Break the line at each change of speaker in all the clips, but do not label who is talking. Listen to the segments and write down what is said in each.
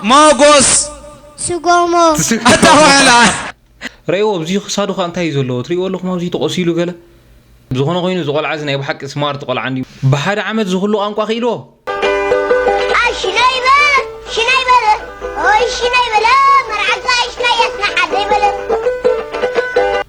ሞጎስ ስጎሞ
ኣታ
ዋዕላ። ረእይዎ
ኣብዚ ክሳዱ ከ እንታይ እዩ ዘለዎ ትርእይዎ ኣለኹም ኣብዚ ተቆሲሉ ገለ። ብዝኾነ ኮይኑ እዚ ቆልዓ እዚ ናይ ብሓቂ ስማርት ቆልዓ እንድዩ ብሓደ ዓመት እዚ ኩሉ ቋንቋ ክኢልዎ።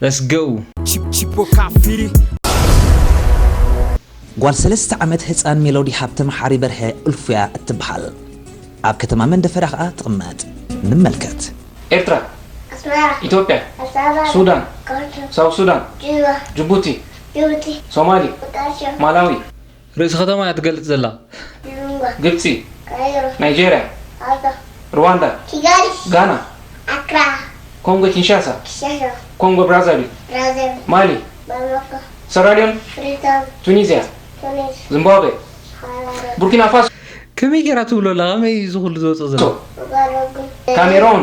Let's go!
ጓል ሰለስተ ዓመት ህጻን ሜሎዲ ሃብተ መሓሪ በርሀ፣ እልፉ'ያ እትበሃል። ኣብ ከተማ መንደፈራ ከኣ ትቕመጥ። ንመልከት። ኤርትራ
ኣስመራ ኢትዮጵያ ኣስመራ ሱዳን ካርቱም ሳውዝ ሱዳን ጁባ ጁቡቲ ጁቡቲ ሶማሊ ሞቃዲሾ ማላዊ። ርእሲ ከተማ እያ ትገልጽ ዘላ። ሉንጓ። ግብጺ። ካይሮ። ናይጀርያ። ኣልታ። ርዋንዳ። ኪጋሊ። ጋና። ኣክራ። ኮንጎ ኪንሻሳ። ኪንሻሳ። ኮንጎ ብራዛቪል። ብራዛቪል። ማሊ። ባማኮ። ሰራልዮን። ፍሪታውን። ቱኒዝያ። ቱኒዝ። ዝምባብዌ። ሃራረ። ቡርኪናፋሶ። ከመይ ጌራ ትብሎ ኣላ ከመይ ኢዩ እዚ ኩሉ ዝወጾ ዘሎ። ኡጋሮጉ። ካሜሮን።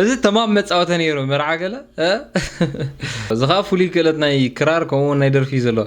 እዚ ተማም መፃወተ ነይሩ መርዓ ገለ እዚ ከዓ ፍሉይ ክእለት ናይ ክራር ከምኡውን ናይ ደርፊ እዩ ዘለዎ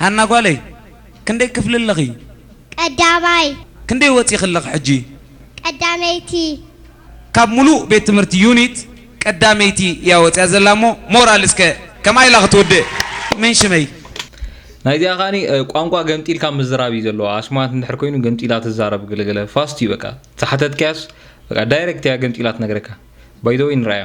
ሃና ጓለይ ክንደይ ክፍሊ ኣለኺ? ቀዳማይ።
ክንደይ ወጺኺ
ኣለኺ ሕጂ? ቀዳመይቲ። ካብ ሙሉእ ቤት ትምህርቲ ዩኒት ቀዳመይቲ እያ ወጺኣ ዘላ እሞ ሞራል እስከ ከምኣ ኢላ ክትውድእ። መን ሽመይ? ናይዚኣ
ከኣኒ ቋንቋ ገምጢልካ ምዝራብ እዩ ዘለዋ ኣስማት እንድሕር ኮይኑ ገምጢላ ትዛረብ ገለገለ ፋስት እዩ በቃ ዝሓተትካያስ በቃ ዳይረክት እያ ገምጢላ ትነግረካ ባይዘወይ ንርኣያ።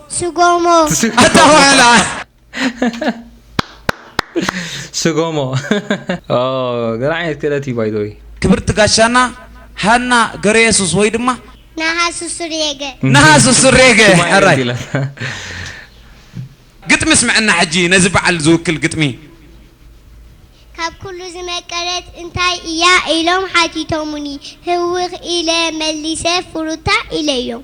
ስጎሞ
ስጎሞ ገለ ዓይነት ክእለት እዩ ባይ ዘ ወይ ክብርቲ ጋሻና
ሃና ገረየሱስ ወይ ድማ ነሃሱ
ሱሬገ ነሃሱ ሱሬገ
ሕራይ ግጥሚ ስምዐና ሕጂ ነዚ በዓል ዝውክል ግጥሚ
ካብ ኩሉ ዝመቀረት እንታይ እያ ኢሎም ሓቲቶሙኒ ህውኽ ኢለ መሊሰ ፍሩታ ኢለዮም።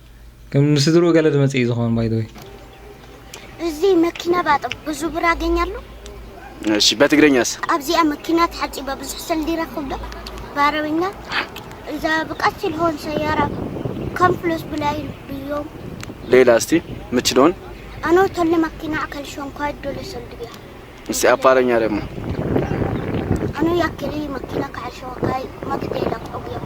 ከም ንስድርኡ ገለ ድመጽእ እዩ ዝኸውን ባይ ዘ ወይ
እዚህ መኪና ባጥብ ብዙ ብር አገኛለሁ። እሺ
በትግረኛስ ኣብዚኣ መኪና
ተሓፂበ ብዙሕ ሰልዲ ይረክብ ዶ ብዓረብኛ እዛ ብቀስ ኢልሆን ሰያራ ከም ፍሎስ ብላይ ብዮም ሌላ እስቲ
ምችዶን ኣኖ ተለ
መኪና ኣከል ሸንኳይ ዶለ ሰልዲ ብያ እስቲ ኣፓረኛ
ደግሞ ኣኖ
ያክሊ መኪና ካዕል ሸንኳይ መክቴ ለቅዑ ብዮም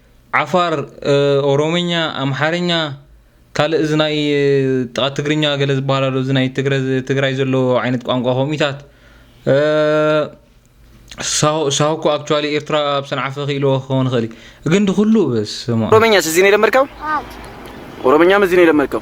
ዓፋር ኦሮምኛ ኣምሓርኛ ካልእ እዚ ናይ ጥቃ ትግርኛ ገለ ዝበሃል ኣሎ እዚ ናይ ትግራይ ዘሎ ዓይነት ቋንቋ ከምኡታት ሳሆ እኮ ኣክቹዋሊ ኤርትራ ኣብ ሰንዓፈ ክኢልዎ ክኸውን ይኽእል እዩ ግን ድኩሉ በስማ ኦሮምኛስ እዚ ነው
የለመድከው? ኦሮምኛም እዚ ነው የለመድከው?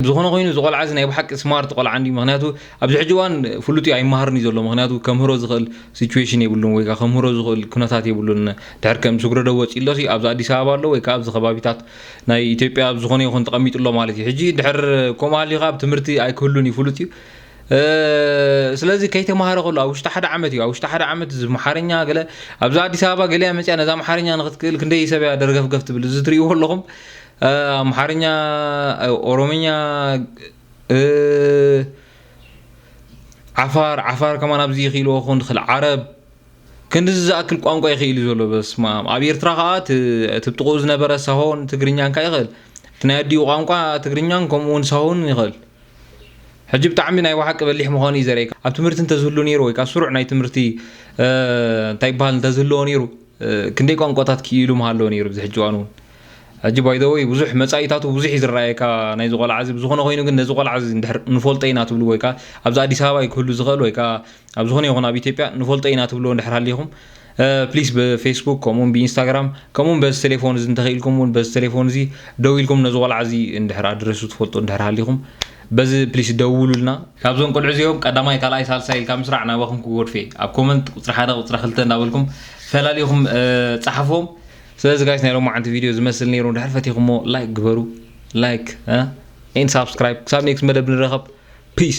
ብዝኾነ ኮይኑ እዚ ቆልዓ እዚ ናይ ብሓቂ ስማርት ቆልዓ እንድዩ ምክንያቱ ኣብዚ ሕጂ እዋን ፍሉጥ እዩ ኣይመሃርን እዩ ዘሎ ምክንያቱ ከምህሮ ዝኽእል ሲቹዌሽን የብሉን ወይ ከምህሮ ዝኽእል ኩነታት የብሉን ድሕር ከም ስግረዶ ወጺሎ ሲ ኣብዚ ኣዲስ ኣበባ ኣሎ ወይ ከኣ ኣብዚ ከባቢታት ናይ ኢትዮጵያ ኣብ ዝኾነ ይኹን ተቐሚጡ ኣሎ ማለት እዩ ሕጂ ድሕር ከምኡ ሃልዩ ከኣ ትምህርቲ ኣይክህሉን እዩ ፍሉጥ እዩ ስለዚ ከይተማሃረ ከሎ ኣብ ውሽጢ ሓደ ዓመት እዩ ኣብ ውሽጢ ሓደ ዓመት እዚ መሓርኛ ገለ ኣብዚ ኣዲስ ኣበባ ገሊያ መፅያ ነዛ መሓርኛ ንክትክእል ክንደይ ሰብ እያ ደርገፍገፍ ትብል እዚ ትርእይዎ ኣለኹም ኣምሓርኛ ኦሮምኛ ዓፋር ዓፋር ከማን ኣብዚ ይኽኢልዎ ክኾን ዝኽእል ዓረብ ክንዲዚ ዝኣክል ቋንቋ ይኽኢሉ ዘሎ በስማም ኣብ ኤርትራ ከዓ እቲ ጥቑኡ ዝነበረ ሳሆን ትግርኛን ከዓ ይኽእል እቲ ናይ ኣዲኡ ቋንቋ ትግርኛን ከምኡ እውን ሳሆን ይኽእል ሕጂ ብጣዕሚ ናይ ብሓቂ በሊሕ ምዃኑ እዩ ዘርእየካ ኣብ ትምህርቲ እንተዝህሉ ነይሩ ወይ ከዓ ስሩዕ ናይ ትምህርቲ እንታይ ይበሃል እንተዝህልዎ ነይሩ ክንደይ ቋንቋታት ክኢሉ ምሃለወ ነይሩ ብዚ ሕጂ እዋን እውን ሕጂ ባይ ዘ ወይ ብዙሕ መጻኢታቱ ብዙሕ እዩ ዝረኣየካ ናይዚ ቆልዓ እዚ ብዝኾነ ኮይኑ ግን ነዚ ቆልዓ እዚ እንድሕር ንፈልጦ ኢና ትብሉ ወይ ከዓ ኣብዚ ኣዲስ ኣበባ እዩ ክህሉ ዝኽእል ወይ ከዓ ኣብ ዝኾነ ይኹን ኣብ ኢትዮጵያ ንፈልጦ ኢና ትብልዎ እንድሕር ሃሊኹም ፕሊስ ብፌስቡክ ከምኡውን ብኢንስታግራም ከምኡውን በዚ ቴሌፎን እዚ እንተኽኢልኩም እውን በዚ ቴሌፎን እዚ ደው ኢልኩም ነዚ ቆልዓ እዚ እንድሕር ኣድረሱ ትፈልጡ እንድሕር ሃሊኹም በዚ ፕሊስ ደውሉልና ካብዞም ቆልዑ እዚኦም ቀዳማይ ካልኣይ ሳልሳይ ኢልካ ምስራዕ ናባኹም ክጎድፌ ኣብ ኮመንት ቁፅሪ ሓደ ቁፅሪ ክልተ እንዳበልኩም ፈላሊኹም ፀሓፎም ስለዚ ጋይስ ናይ ሎማዓንቲ ቪድዮ ዝመስል ነይሩ ድሕር ፈቲኹሞ ላይክ ግበሩ ላይክ ኤን ሳብስክራይብ ክሳብ ኔክስት መደብ ንረኸብ ፒስ